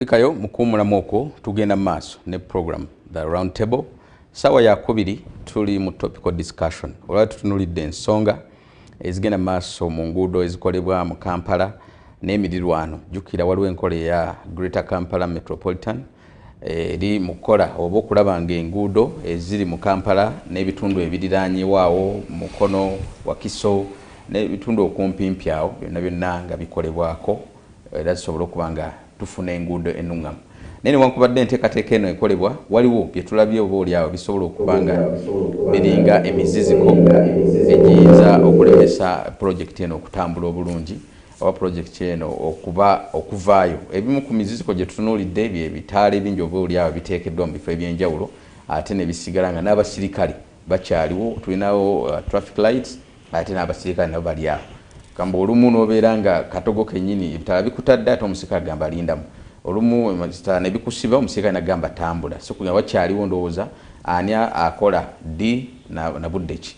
Kayo mukuwumulamu okwo tugenda mu maaso ne program the round table saawa yakubiri tuli mu topical discussion olwali tutunulidde ensonga ezigenda mu maaso mu nguudo ezikolebwa mu kampala n'emirirwano jjukira waliwo enkola eya greater kampala metropolitan eri mu kukola oba okulaba ng'enguudo eziri mu kampala n'ebitundu ebiriraanyewaawo mukono wakiso n'ebitundu okumpimpi awo byonna byonna nga bikolebwako era zisobole okuba nga tufuna enguudo ennuŋŋamu. Naye newankubadde enteekateeka eno ekolebwa, waliwo bye tulabye oba olyawo bisobola okuba nga biringa emiziziko egiyinza okulemesa pulojekiti eno okutambula obulungi oba pulojekiti eno okuba okuvaayo. Ebimu ku miziziko gye tutunuulidde bye bitaala ebingi oba olyawo biteekeddwa mu bifo eby'enjawulo ate ne bisigala nga n'abasirikale bakyaliwo tulinawo uh, traffic lights ate n'abasirikale nabo bali awo gamba olumu nobeera nga katogo kenyini ebitala bikutadde ate omusirikale agamba alindamu olumu ebitala nebikusiba omusirikale nagamba tambula sikunya wakyaliwo ndowooza ani akola ddi na budde ki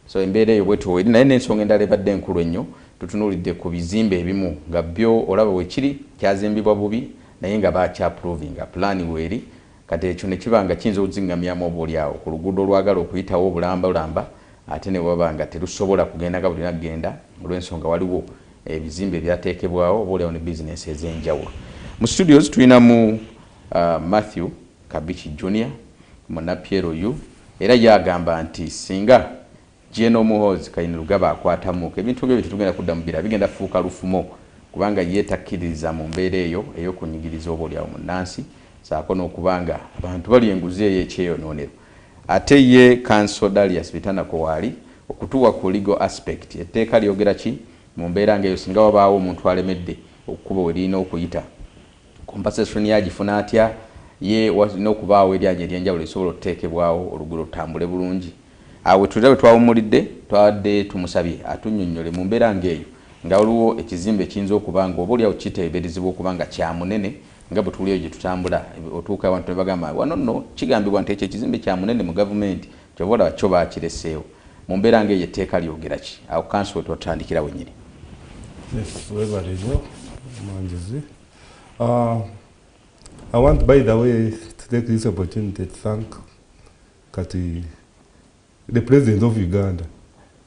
so embeera eyo bwetweri naye n'ensonga endala ebadde enkulu ennyo tutunuulidde ku bizimbe ebimu nga byo olaba wekiri kyazimbibwa bubi naye nga bakyaprovinga pulaani weeri Kati ekyo ne kiba nga kiyinza okuziŋŋamyamu oba oli awo ku luguudo olwagala okuyitawo obulambalamba ate ne waba nga terusobola kugenda nga bwe lulina kugenda olw'ensonga waliwo ebizimbe ebyateekebwawo oba oli awo ne bizinensi ez'enjawulo. Mu studios tulinamu Mathew Kabichi Junior, Munapyero U, era ye agamba nti singa Gen Muhoozi Kainerugaba akwatamuuka ebintu bye tetugenda kudda mu bira bigenda fuuka lufumo kubanga ye takkiririza mu mbeera eyo ey'okunyigiriza oboolyawo munnansi ssaako n'okuba nga abantu balya enguzi ey'ekyeyonoonero ate ye Kanso Darius Bitanako waali okutuwa ku legal aspect etteeka lyogera ki mu mbeera ng'eyo singa wabaawo omuntu alemedde okukuba we lirina okuyita. Compensation ye agifuna atya? Ye walina okubaawo eryanyi ery'enjawulo erisobola okuteekebwawo oluguudo lutambule bulungi. Awo we tulina we twawummulidde, twabadde tumusabye atunnyonnyole mu mbeera ng'eyo nga waliwo ekizimbe ekiyinza okuba nga oboolyawo kiteeberezebwa okuba nga kya munene nga bwe tuwulira eyo gye tutambula otuuka awantu ne bagamba wano nno kigambibwa nti ekyo ekizimbe kya munene mu Gavumenti Kyova olaba kyo bakileseewo. Mumbeera nga eyo etteeka lyogera ki? Awo kanso wetwatandikira wenyini. Yes, webale nyo omwanjuzi. Uh, I want by the way to take this opportunity to thank kati the president of Uganda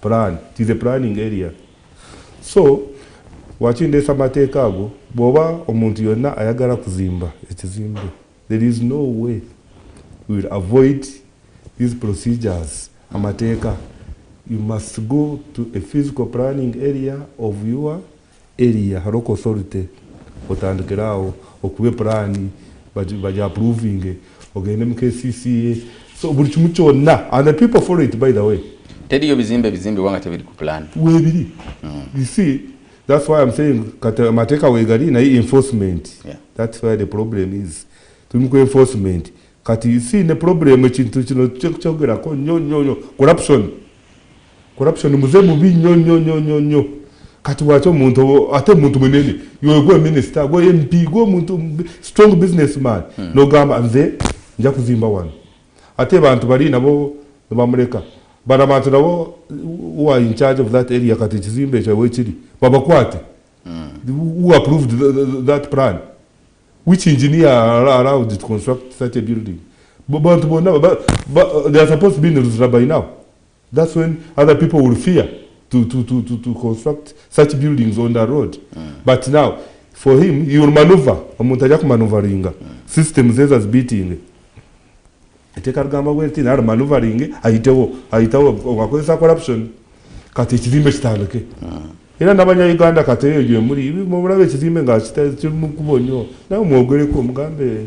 plan tis a planning area so wakindeesa amateeka ago bwoba omuntu yonna ayagala kuzimba ekizimbe there is no way will avoid these procedures amateeka you must go to a physical planning area of your Area local authority otandikire awo okube plan bagi approvinge ogende mu KCCA so buli kimu kyonna and the people follow it by the way teriyo bizimbe bizimbibwa nga tebiri ku plan webiri mm. you see that's why i'm saying kati amateeka wegali naye enforcement yeah. that's why the problem is tuli ku enforcement kati you see ne problem ekintu kino kyogerako nyo nyo nyo corruption corruption muze mubi nyo nyo nyo nyo nyo kati waki omuntu ate omuntu munene yogwe minister gwe mp gwe omuntu strong business man hmm. nogamba nze nja kuzimba wano ate bantu bali nabo nebamuleka bana bantu nabo u are in charge of that area kati ekizimba ekyo wekiri babakwate hmm. u approved that plan which engineer allowed to construct such a building bantu bonna they are supposed to be in luzira by now That's when other people will fear to, to, to, to, to construct such buildings on the road. Mm. But now, for him, he will maneuver. Omuntu ajja kumanuvaringa. Mm. System zeze azibeating. Eteka rugamba bwenti nari manuvaringe ayitewo ayitawo wakozesa corruption kati ekizimbe kitandike. Mm. Era nabanya Uganda kati eyo gye muli mubulabe ekizimbe nga kitali mu kubo nnyo. Nawe mwogereko mugambe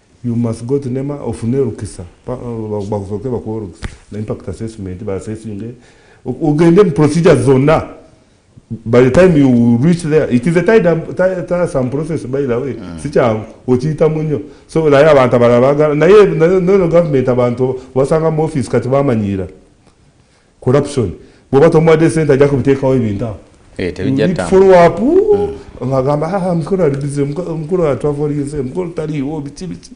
You must go to nema ofune olukisa bakusooke bakuwa olukisa na impact assessment baasesinge ogende mu procedure zonna by the time you reach there it is a tiresome process by the way mm. sikyangu okiyitamu nnyo so naye abantu abalala bagala naye nono government abantu basanga mu office kati bamanyiira corruption bwoba tomuwadde sente ajja kubiteekawo ebintu awo eh, tebijatfollowapu hmm. agamba ah, mukulu alibize mukulu atwavolinze mukulu taliiwo biki biki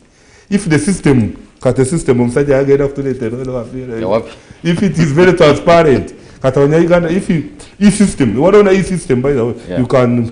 if the system kati system omusajja yagenda kutuleeterowafiira if it is very transparent kati abanya uganda if e system waliwo na e system by the way you can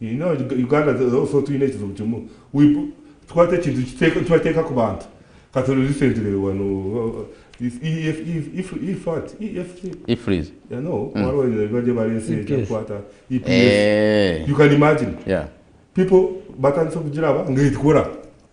You know, Uganda also tulina ekizibu kimu twata ekintu tubateeka ku bantu kati recently wano you can imagine people batandise okugiraba ngaekikola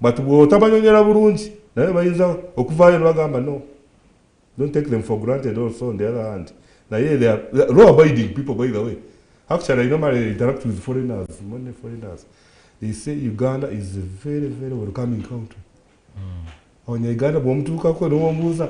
but bwotabanyonyera bulungi naye bayinza okuvaayo nebagamba no don't take them for granted also on the other hand naye they are law abiding people by the way actually i normally interact with foreigners many foreigners they say uganda is a very very welcoming country mm. onye uganda bwomutuukako newomubuuza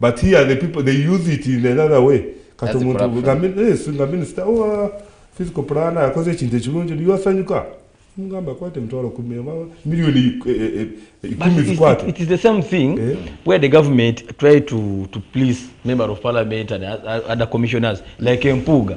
but here the people they use it in another way kati omuntu nga minisita owa oh, physical plan akoze ekintu ekirungi niyasanyuka mugamba kwate emitwalo kumi miliyoni ikumi zikwate it is the same thing eh? where the government try to, to please member of parliament and other commissioners like empuuga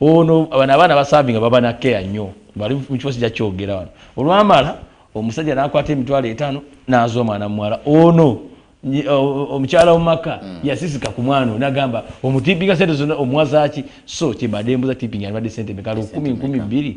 Ono bano abaana basavinga baba na care nnyo bali mu kifo sija kyogera wano olwamala omusajja nakwata emitwalo etaano naza omwana muwala ono omukyala omumaka mm. yasisika ku mwana nagamba omutipinga sente zona omuwazaki so kyebadembuza tipinga alibadde sente meka lukumi nkumi bbiri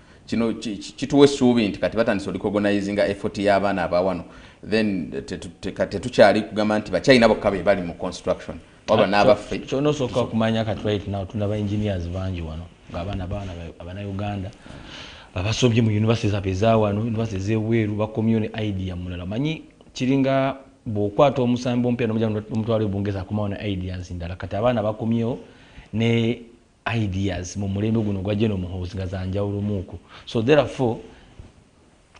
kino kituwa essuubi nti kati batandise olikogonizinga effort y'abaana abawano then tetukyali kugamba nti bachina bokka be bali mu construction waba n'abaffe kyona osooka okumanya kati right now tulina ba engineers bangi wano ng'abaana baana abanauganda abasobye mu univesity zafe ezawano univesity ezebweru bakomyo ne idea mulala manyi kiringa bwokwata omusambi omupya nomutwalo ebungeeza akomawo ne ideas ndala kati abaana bakomyewo ne ideas mu mulembe guno gwa General Muhoozi nga za njawulo muuku so therefore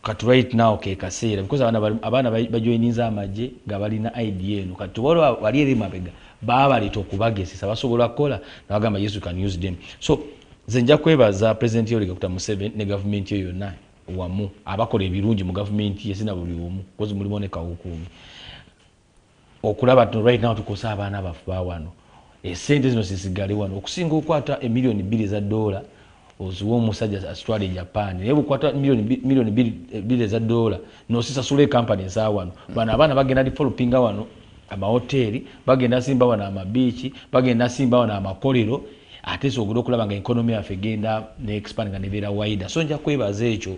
kati right now ke kaseera because abaana abaana bajoininze amagye nga balina idea eno kati waliwo wali eri mabega baabaleeta okubagezesa basobola kukola nabagamba yes you can use them so nze nja kwebaza president yoweri kaguta museveni ne gavumenti yo yonna wamu abakola ebirungi mu gavumenti ye sina buli omu kozi mulimu ne kawukuumi okulaba tno right now tukosa abaana baffe bawano esente zino sisigale wano okusinga okwata emiliyoni bbiri eza doola oziwa omusajja asitwala e japan naye bukwata miliyoni bbiri eza doola nosisasula ekampani eza wano bano abaana bagenda developinga wano amawoteeri bagenda simba wano amabiiki bagenda simba wano amakolero ate sogera okulaba nga ekonomi yaffe egenda ne expand nga nebeera waida so nja kwebaza ekyo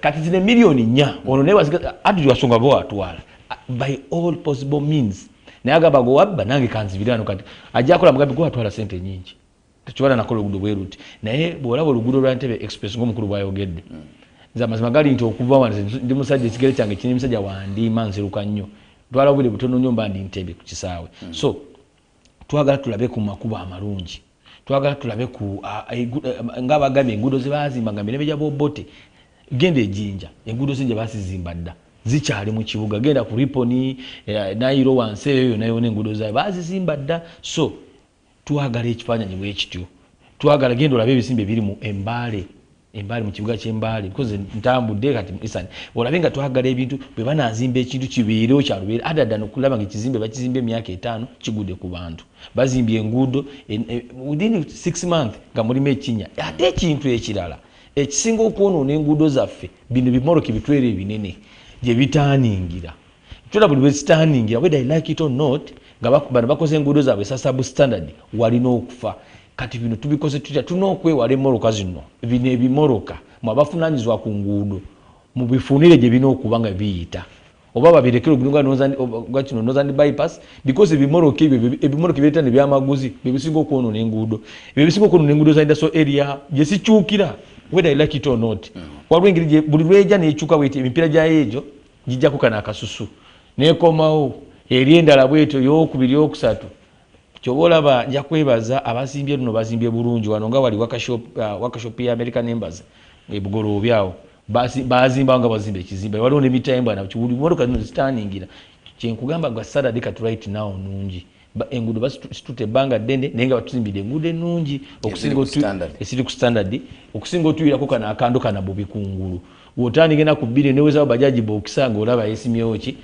kati zino emiliyoni nya ono naye adiri wasonga ge watwala by all possible means naye agamba gwewabba nange kanzibirano kati ajakola mugambi gwewatwala sente nyingi tekibala nakola olugudo bweruti naye bwolaba olugudo lwa ntebe express ngaomukulu bwayogedde mm. nze amazima gali nti okuva wa ndi musajja ekigere kyange kiri musajja wandiima nziruka nnyo twala obwire butono nyo mba ndi ntebe ku kisaawe mm. so twagala tulabe ku makubo amalungi twagala tulabe ku nga bagambye enguudo ze baazimba nga mirembe gya bobote genda ejinja enguudo ze gye baazizimba dda zikyali mu kibuga genda ku riponi eh, nayiro wansi eyo yona yona enguudo zayo baazizimba dda so twagala ekifaananyi bwe kityo twagala genda olabe ebisimba ebiri mu embaale embaali mu kibuga ky'embaali because ntambudde kati isan olabe nga twagala ebintu bwe banazimba ekintu kibeerewo kyalubeere adada nokulaba nga ekizimbe bakizimba emyaka etaano kigude ku bantu bazimbye enguudo within six month nga mulimu ekinya ate ekintu ekirala ekisinga okwonoona enguudo zaffe bino bimoroki bitwere ebinene gye bitaaningira kyona buli lwezitandingira whether i like it or not nga bano bakoze enguudo zaabwe sasabu standard walina okufa kati bino tubikoze tutya tulina okwewala emoroka zino bino ebimoroka mwe abafunanyizibwa ku nguudo mubifunire gye birina okuba nga biyita oba babirekere obulinogakino northern bypass because ebimoroka ebyo ebimoroka ebireeta ne byamaguzi bye bisinga okwonona enguudo ebyo bisinga okwonona enguudo za indaso area gye sikyukira whether i like it or not mm. waliwo engeri buli lweja nekyuka bweti emipiira gyayo egyo Njijjako kano akasusu nekomawo eri endala bwetyo yokubiri okusatu kyoba olaba nja kwebaza abazimbye luno bazimbye bulungi wano nga wali wakashop uh, wakashop ya american embassy ebugoloobi awo bazimbawo nga bazimba ekizimba waliwo nemitayembwa nakiwuli motoka zino zitaningira kyenkugamba gwa saturday kati right now nungi enguudo basitute ebbanga ddene naye nga batuzimbidde enguudo ennungi esiri ku standard okusinga otuwirako kano akando kana bubi ku ngulu wotandigena ku bbiri newezawo bajaji bokisa nga olaba yesimyewo ki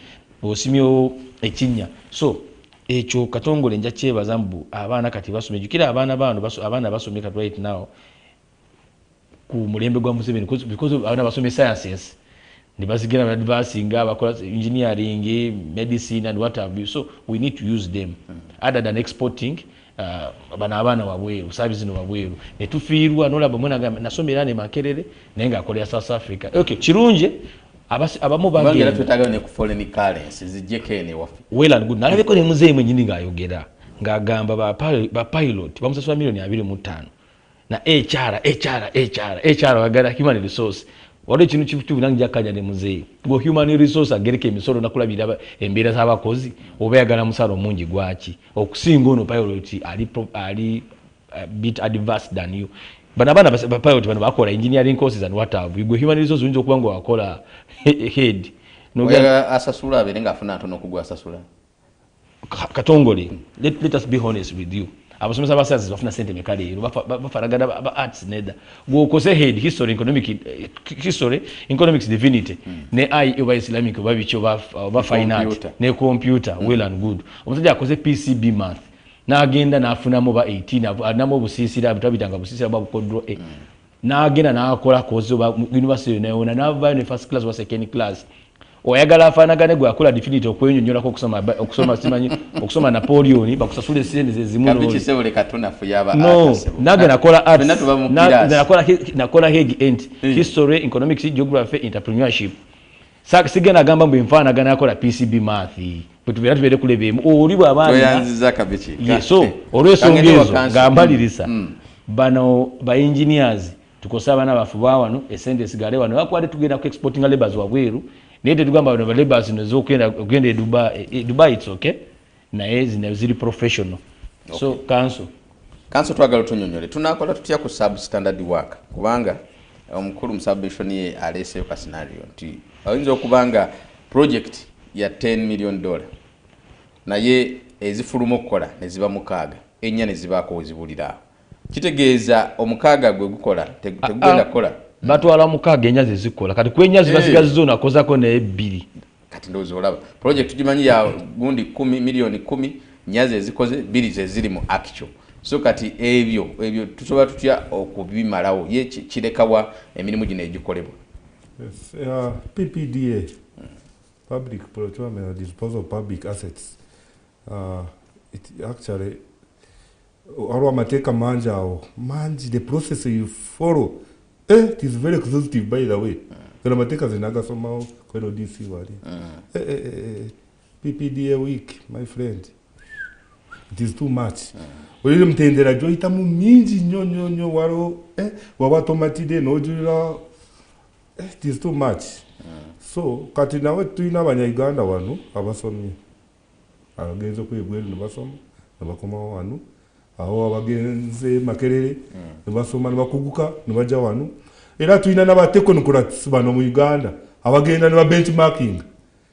osimyewo ekinnya so ekyo katongole nja kyebaza mbu abaana kati basoma ejukira abaana baano abaana basomye kati right now ku mulembe gwa museveni because abana basomye sciences nebazigenda nadvasinga abakola engineering medicine and what have you so we need to use them mm. other than exporting uh, bana abaana wabweru sabi zino wabweru netufiirwa nolaba mwana gamba nasoma era ne makerere naye nga akolera south africa okay kirungi abamu bagenalabeko ne muzeeyi mwenyini ngaayogera ngaagamba bapilot bamusasula milioni abiri mu ttaano na HR HR HR HR wagala human resource wali kinu kibutubu nangi jakanya ne muzee go human resource agereke emisoro nakula biraba embera za bakozi oba yagala musaro mungi gwachi okusinga ono pilot ali pro, ali uh, bit advanced than you bana bana ba pilot bana bakola engineering courses and what have you go human resource unjo kubango wakola head no gala asasula aberenga afuna ntono kugwa asasula katongole let, let us be honest with you abasomesa basazi bafuna sente meka leero bafaragana ba arts neda gwokoze head history economic eh, history economics divinity hmm. ne ai oba islamic oba biki oba uh, fine art ne computer hmm. well and good omusajja akoze pcb math n'agenda n'afunamu ba 18 anamu obusiisira bitabitanga busiisira bwa bukodro a eh. hmm. nagenda nakola kozi oba university yonayona navayo ne first class oba second class oyagala afanagane gwe akola definity okwenyonyolako okusoma okusoma simanyi okusoma napoleon bakusasula esente zezimunonagenakola heg ent hmm. history economics geography entrepreneurship sigenda agamba mbu enfanagana akola pcb mathi bwetubera tubere kuleba emu oli bwabaanziza kabiki yeso eh, olwesonga ezo nga mbalirisa mm, mm. bano ba engineers tukosa abaana baffe bawano esente esigale wano bakwade tugenda ku exporting labors wabweru naye tetugamba bano balabors zino zokugenda e dubai e, e dubai its okay naye zino ziri professional okay. so kanso kanso twagala tunyonyole tunakola tutya ku sub standard work kubanga omukulu musabishoni ye aleeseyo ka scenario nti oyinza okuba nga Project ya ten million dollar naye ezifuluma okukola ne ziba mukaaga ennya ne zibaako we zibulira awo kitegeeza omukaaga gwe gukola tegugenda kukola batwala mukaaga ennya ze zikola kati ku ennya zibasigazi eh. zona akozako naye bbiri kati ndowooza olaba project tugimanyi ya gundi kumi miliyoni kumi nnya ze zikoze bbiri ze ziri mu actual so kati ebyo ebyo tusobola tutya okubimalawo ye kirekawa emirimu gino egikolebwa Uh, PPDA, Public Procurement and Disposal of Public Assets, uh, it actually, waliwo amateeka mangi awo mangi the process you follow eh, it is very exhaustive by the way gano amateeka zinaagasomawo kweno dc wali mm. eh, eh, eh, eh. PPDA week my friend it is too much olire mutendera gyoyitamu mingi nnyo nnyo nnyo waliwo eh, waba tomatide nojulira eh, it is too much so kati nawe tulina abanyauganda wano abasomye abagenze okwebweru nebasoma nebakomawo wano awo abagenze makerere nebasoma nebakuguka nebaja wano era tulina nabatekonokrats bano mu uganda abagenda nebabenchmarking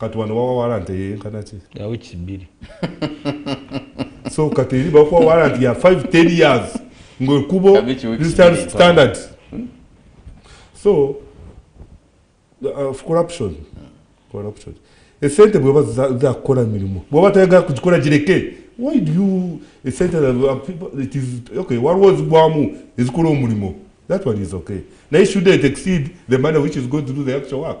kati wano wawa walanti eyenkana ki yawiki bbiri so kati eri bakuwa walanti ya 5 10 years ngaekubo standard hmm? so uh, corruption corruption esente bweba zakukola mirimu bweba tayagala kugikola gireke why do you esente uh, it is okay waliwo zigwamu ezikola omulimo that one is okay naye should it exceed the money which is going to do the actual work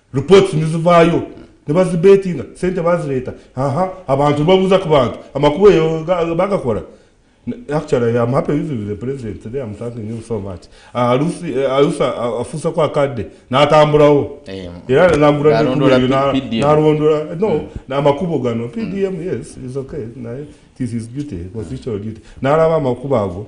reports nizivaayo nebazibetinga sente bazireeta aha abantu babuuza ku bantu amakubo eyo bagakola actually am happy with the president today am thanking him so much alusi ah, eh, alusi ah, ah, afusa kwa kadde natambulawo eh, era nagula nalondola no hmm. namakubo gano pdm yes is okay naye this is duty constitutional duty nalaba amakubo ago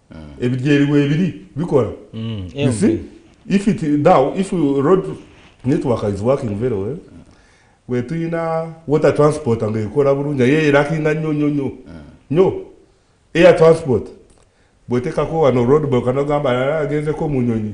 mm. ebidyeri webiri bikola mm. you see if it now if road network is working very well wetuyina water transport nga ekola bulungi aye erakinga nyo nyo nyo mm. nyo air transport bwetekako wano road bokanogamba agenze ko munyonyi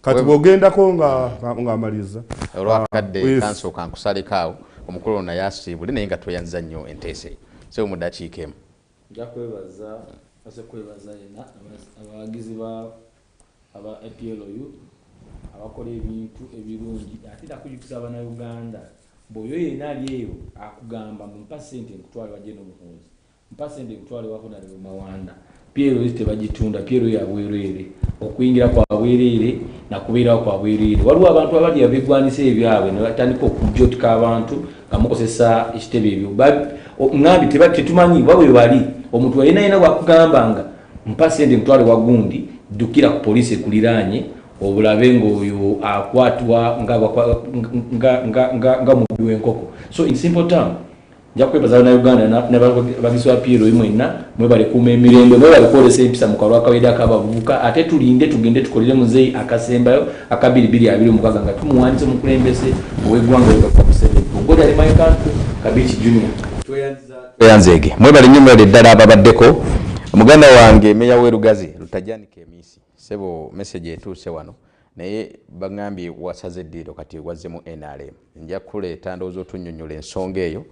kati bwogendako ngaamaliza olwakadde ah, kansooka nkusaleko awo omukulu ono naye asiibule naye nga tweyanziza nnyo enteesa eyo sebo mu dakiika emu nja kwebaza aze kwebaza yena abawagizi ba aba aplu abakola ebintu ebirungi ate nakujukiza abana uganda mbu oyo yena ali eyo akugamba mumpa sente nkutwale wajje nomuhunzi Mpa sente nkutwale wako na Leo Mawanda. PLS tebagitunda, PLS ya bwereere. Okuyingira kwa bwereere na kubeerawo kwa bwereere. Waliwo abantu abali abegwanisa ebyabwe ne batandika okujotika abantu nga mukozesa ekitebe ebyo. Ng'ambi tetumanyi oba bwe bali. Omuntu alina yena bwakugamba nga mpa sente nkutwale wa gundi, ddukira ku poliisi ekuliraanye obulabe ng'oyo akwatwa nga mubbi w'enkoko. So in simple term, nja kwebaza banauganda nebagizi ba plo mwenna mwebale kuuma emirembe mwebale kwolesa empisa mu kalwa kawedde akabavubuka ate tulinde tugende tukolere muzeeyi akasembayo akabiri biri abiri omukaga nga tumuwandisa omukulembeze owegwanga ogakumusebeugodalimaikantu kabici junior tweyanzeege mwebale nnyo mwebale ddala ababaddeko muganda wange meya werugazi lutajanika emisi Ssebo message etuuse wano naye bangambye wasaze eddiiro kati wazze mu nrm. Nja kukuleeta ndowooza otunnyonnyole ensonga eyo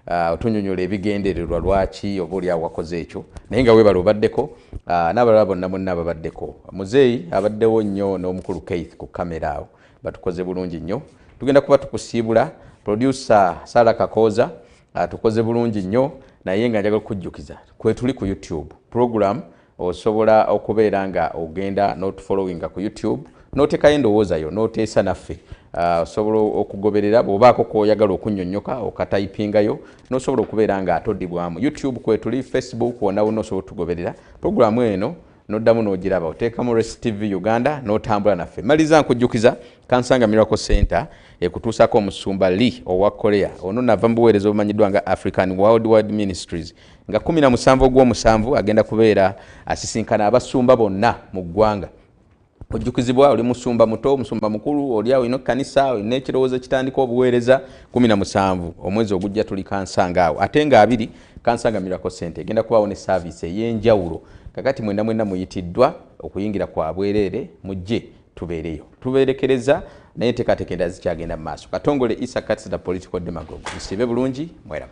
ah, otunnyonnyole ebigendererwa lwaki oba oli awo wakoze ekyo naye nga weebale obaddeko ah, n'abalala bonna mwenna ababaddeko. Muzeeyi abaddewo nnyo n'omukulu Keith ku kkamera awo batukoze bulungi nnyo. Tugenda kuba tukusiibula producer Sarah Kakooza atukoze ah, bulungi nnyo naye nga njagala okujjukiza kwetuli ku YouTube program Osobola okubeera nga ogenda n'otufollowinga ku YouTube n'oteekayo endowooza yo n'oteesa naffe ah, osobola okugoberera bw'obaako kwoyagala okunnyonnyoka okatayipingayo n'osobola okubeera nga atodibwamu YouTube kwetuli Facebook wonna wonna osobola otugoberera pulogulaamu eno noddamu n'ogiraba oteeka mu Race TV Uganda n'otambula naffe maliza nkujjukiza kansanga Miracle Center ekutuusako omusumba Lee owa Korea ono nava mu buweereza obumanyiddwa nga African Worldwide Ministries nga 17 ogwomusanvu agenda kubeera asisinkana abasumba bonna mu ggwanga ojjukizibwa oli musumba muto omusumba mukulu oli awo ino kanisa olina ekirowoozo ekitandika obuweereza 17 omwezi ogujja tuli kansanga awo ate nga abiri kansanga miracle center egenda kubaawo ne saaviisi ey'enjawulo kakati mwena mwena muyitiddwa okuyingira kwa bwereere mujje tubeereyo tubeerekereza naye enteekateeka endala zikyagenda mu maaso katongole isa kats the political demagogue musiibe bulungi mweraba